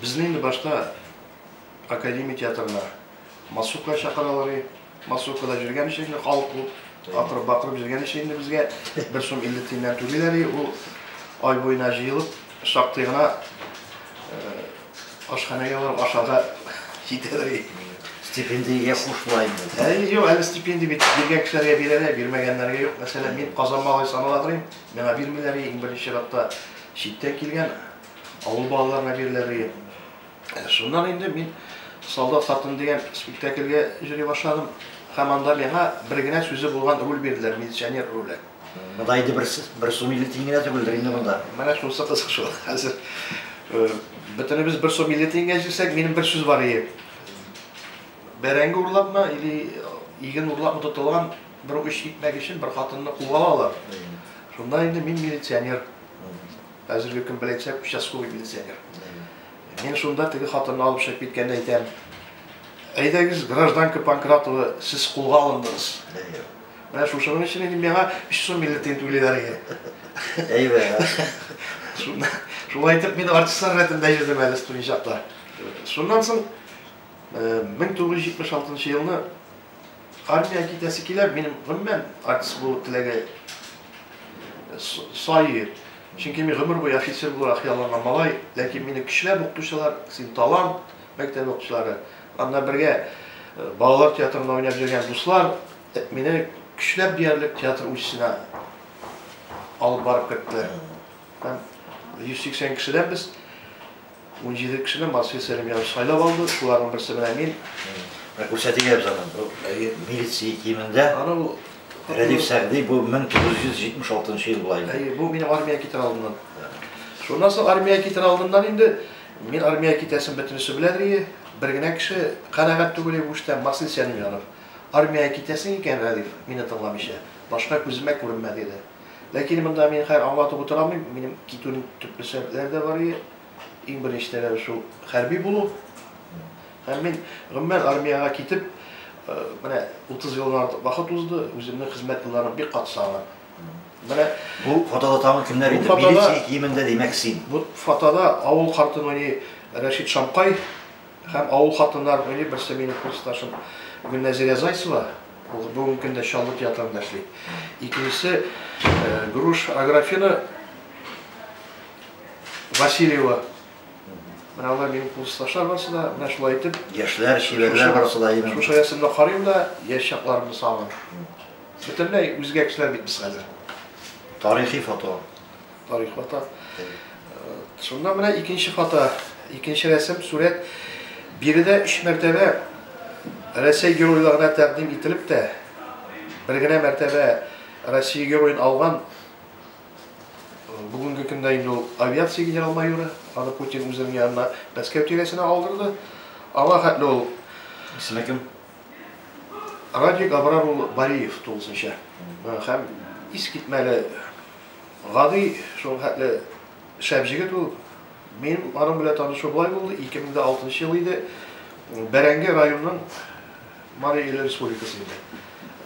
Безне инде башта Академия театрына массовка чакыралар иде. Массовкада җөргәнче инде халык күп. Акырып бакырып җөргәнче инде безгә бер сум илле тиеннән түлиләр иде. Ул ай буена җыелып, шактый гына ашханәгә барып ашарга җитәләр иде. Стипендиягә кушыла инде. Әй, юк, әле стипендия бит биргән кешеләргә бирәләр, бирмәгәннәргә юк. Мәсәлән, мин Казан малае санала торыйм, миңа бирмиләр иде, иң беренче чиратта читтән килгән. авыл балалар лагерьләре. Ә шуннан инде мин Солдат хатын дигән спектакльгә җыри башладым. Һәм анда миңа бер генә сүзе булган роль бирделәр, милиционер роле. Монда инде бер, бер сум илле тиен генә түгелдер инде монда. Менә шунысы кызык шул. Хәзер э, бөтенебез бер сум илле тиенгә җирсәк, минем бер сүз бар иде. Бәрәңге урлапмы или иген урлапмы тотылган бер үч итмәк өчен бер хатынны куып алалар. Шунда инде мин милиционер. Әзерлекем беләнчә участковый милиционер. Мин шунда теге хатынны алып чыгып киткәндә әйтәм, әйдәгез, гражданка Панкратова, сез кулга алындыгыз. Менә шушының өчен инде миңа 3 сум биллетен түлиләр иде. Әйбә. Шунда шулай итеп мин артистлар рәтендә йөрдем әле студент чакта. Шуннан соң 1976 елны Армиягә китәсе килә, минем гомумән артист булу теләге саи. Чөнки мин гомер буе офицер булырга хыялланган малай. Ләкин мине көчләп укытучылар, син талант, мәктәп укытучылары, аны белән бергә балалар театрында уйнап йөргән дуслар мине көчләп диярлек театр училищесына алып барып керттеләр. Һәм 180 кешедән без Унҗиде кешене Марсель Сәлимҗанов сайлап алды, шуларның берсе менә мин. Менә күрсәтик әле аны, бу милиция киемендә. Аны бу Рәдиф Сәгъди, бу 1976 нчы ел була инде. Әйе, бу мине армия китер алдыннан. Шуннан соң армия китер алдыннан инде мин армия китәсен бөтенесе беләдер ие, бер генә кеше канәгать түгел ие бу эштән, Марсель Сәлимҗанов. Армия китәсең икән, Рәдиф, мине тыңламыйча, башка күземә күренмә, диде. Ләкин монда мин хәер аңлатып утыра алмыйм, минем китүнең төпле сәбәпләре дә бар иде. Иң беренче таләбе шул хәрби булу. Һәм мин гомумән армиягә китеп, э, менә 30 елдан артык вакыт узды, үземнең хезмәт елларым бик кат сагына. Менә бу фотода тагын кемнәр иде? Милиция киемендә димәк син. Бу фотода авыл картын уйный Рәшит Шамкай. Һәм авыл хатыннары уйный, берсе минем курсташым Гөлнәзирә Зайцева, ул бүгенге көндә Чаллы театрында эшли. Икенчесе Груш Аграфена Васильева. Менә алар минем курсташлар барысы да, менә шулай итеп. Яшьләр, чибәрләр барысы да имин. Шушы рәсемне карыйм да, яшь чакларымны сагынып. Бөтенләй үзгә кешеләр бит без хәзер. Тарихи фото. Тарих фото. Шунда менә икенче фото, икенче рәсем, сурәт. Биредә өч мәртәбә Рәсәй геройларына тәкъдим ителеп тә, бер генә мәртәбә Россия героен алган бүгенге көндә инде ул авиация генерал майоры, аны Путин үзенең янына Мәскәү тирәсенә алдырды. Аңа хәтле ул исеме кем? Радик Абрар улы Бариев тулысынча. Һәм искитмәле Гади, шул хәтле шәп җегет ул. Мин аның белән танышу болай булды, 2006 нчы ел иде, Бәрәңге районының Марий Эл республикасы инде.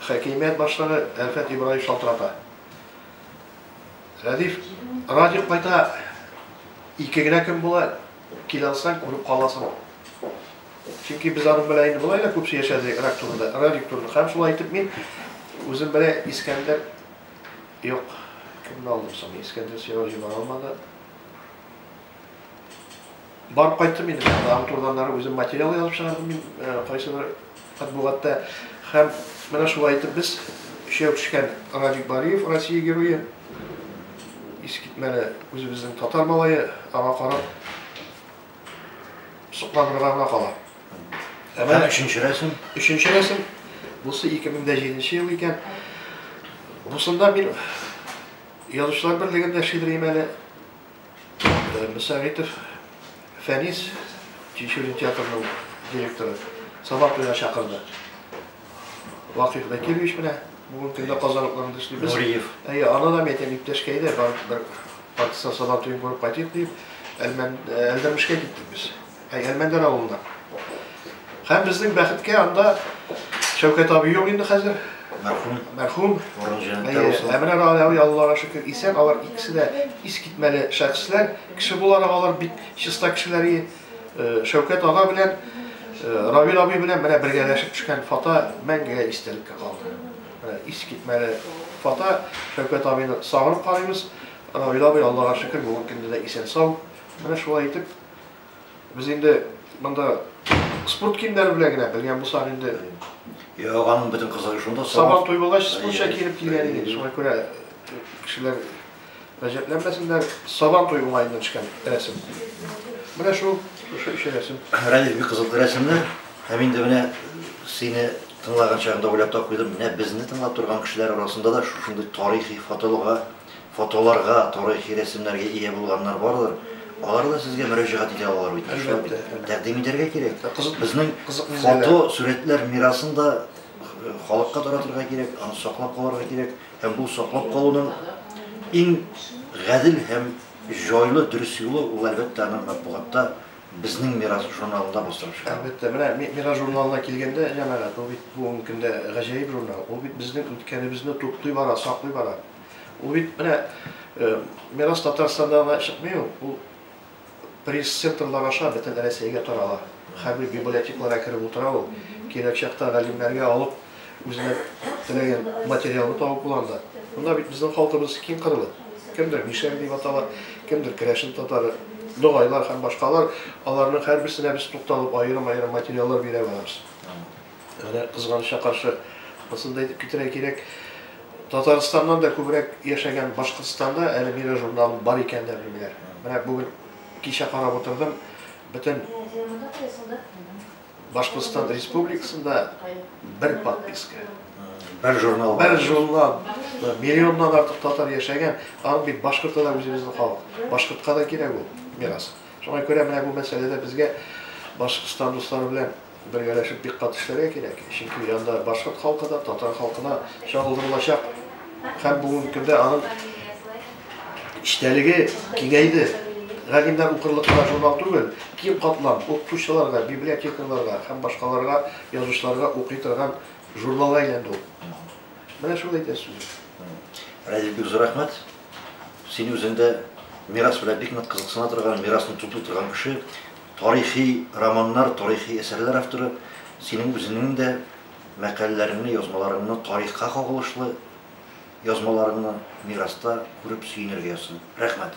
Хакимият башлыгы Әлфәт Ибраев шалтырата. Рәдиф, Радик кайта, ике генә көн була, кил алсаң, күреп каласың. Чөнки без аның белән инде болай да күп сөйләшәдек Рак турында, Радик турында. Һәм шулай итеп мин үзем белән Искәндәр Юк, кемне алдым соң? Искәндер сиңа җибәр алмады. Барып кайттым инде. Тагын турданнары үзем материал язып чыгардым мин э, кайсы бер матбугатта. Һәм менә шулай итеп без өчәү төшкән Радик Бариев, Россия герое, искитмәле үзебезнең татар малае, аңа карап Сокланырга гына кала. Ә менә өченче рәсем. Өченче рәсем. Бусы 2007 ел икән. Бусында мин язучылар берлегендә шигырем әле. Э, Мөсәгыйтов Фәнис Чечулин театрының директоры Сабак чакырды. Вакыйф Закирович менә бүген көндә Казан утларында эшли. Нуриев. Әйе, аны да мәйтәм иптәшкә әйдә, бар бер партизан сабан туен күреп кайтыйк дип, Әлмән Әлдермешкә киттек без. Әй, Әлмәндәр авылына. Һәм безнең бәхеткә анда Шәүкәт абый юк инде хәзер. Мәрхүм. Мәрхүм. Урын җәннәттә булсын. Әмир Галиев Аллага шөкер исән, алар икесе дә искитмәле шәхесләр. Кеше буларак алар бик чиста кешеләр иде. Шәүкәт ага белән Равил абый белән менә бергәләшеп төшкән фото мәңгегә истәлеккә калды. Ис китмәле фото. Шәүкәт абыйны сагынып карыйбыз. Равил абый Аллага шөкер бүгенге көндә дә исән сау. Менә шулай итеп без инде монда спорт киемнәре белән генә белгән булсак инде Йә, аганың бөтен кызыгы шунда. Сабан туй булгач, спортча киенеп килгән идек. Шуңа күрә кешеләр Гаҗәпләнмәсеннәр, Сабан туе уңаеннан төшкән рәсем. Менә шул, шушы өч рәсем. Рәдиф, бик кызыклы рәсемнәр. Һәм инде менә сине тыңлаган чагында уйлап та куйдым, менә безне тыңлап торган кешеләр арасында да шушындый тарихи фотолга, фотоларга, тарихи рәсемнәргә ия булганнар бардыр. Алар да сезгә мөрәҗәгать итә алалар бит. Әлбәттә. Тәкъдим итәргә кирәк. Кызык, безнең кызык фото, сурәтләр мирасын да халыкка таратырга кирәк, аны саклап калырга кирәк. Һәм бу саклап калуның иң гадел һәм җайлы, дөрес юлы, ул, әлбәттә, аны матбугатта Безнең мирас журналында бастырып чыгару. Әлбәттә, менә Мирас журналына килгәндә, җәмәгать, ул бит бүгенге көндә гаҗәеп журнал. Ул бит безнең үткәнебезне туплый бара, саклый бара. Ул бит менә Мирас Татарстанда гына чыкмый ул. Ул Пресс-центрлар аша бөтен Рәсәйгә тарала. Хәрби библиотекларга кереп утыра ул. Кирәк чакта галимнәргә алып, үзенә теләгән материалны табып була анда. Монда бит безнең халкыбыз киң кырлы. Кемдер мишәр дип атала, кемдер керәшен татары, ногайлар һәм башкалар, аларның һәрберсенә без тукталып, аерым-аерым материаллар бирә барабыз. Менә кызганычка каршы, анысын да әйтеп китерә кирәк, Татарстаннан да күбрәк яшәгән Башкортстанда әле Мира журналын бар икәнен дә белмиләр. Менә бүген кичә карап утырдым, бөтен Башкортстан Республикасында бер подписка. Бер журнал. Бер журнал. Миллионнан артык татар яшәгән, аны бит башкорта да үзебезнең халык. Башкортка да кирәк ул мирас. Шуңа күрә менә бу мәсьәләдә безгә Башкортстан дуслары белән Бергәләшеп бик каты эшләргә кирәк, чөнки янда башкорт халкы да, татар халкы да чагылдырылачак. Һәм бүгенге көндә аның эчтәлеге киңәйде. Галимнәр укырлык кына журнал түгел, киң катлам укытучыларга, библиотекарьларга һәм башкаларга, язучыларга укый торган журналга әйләнде ул. Менә шул әйтәсе сүзем. Радик, бик зур рәхмәт. Син үзең дә мирас белән бик нык кызыксына торган, мирасын туплый торган кеше. Тарихи романнар, тарихи әсәрләр авторы, синең үзеңнең дә мәкаләләреңне, язмаларыңны, тарихка кагылышлы язмаларыңны мираста күреп сөенергә язсын. Рәхмәт.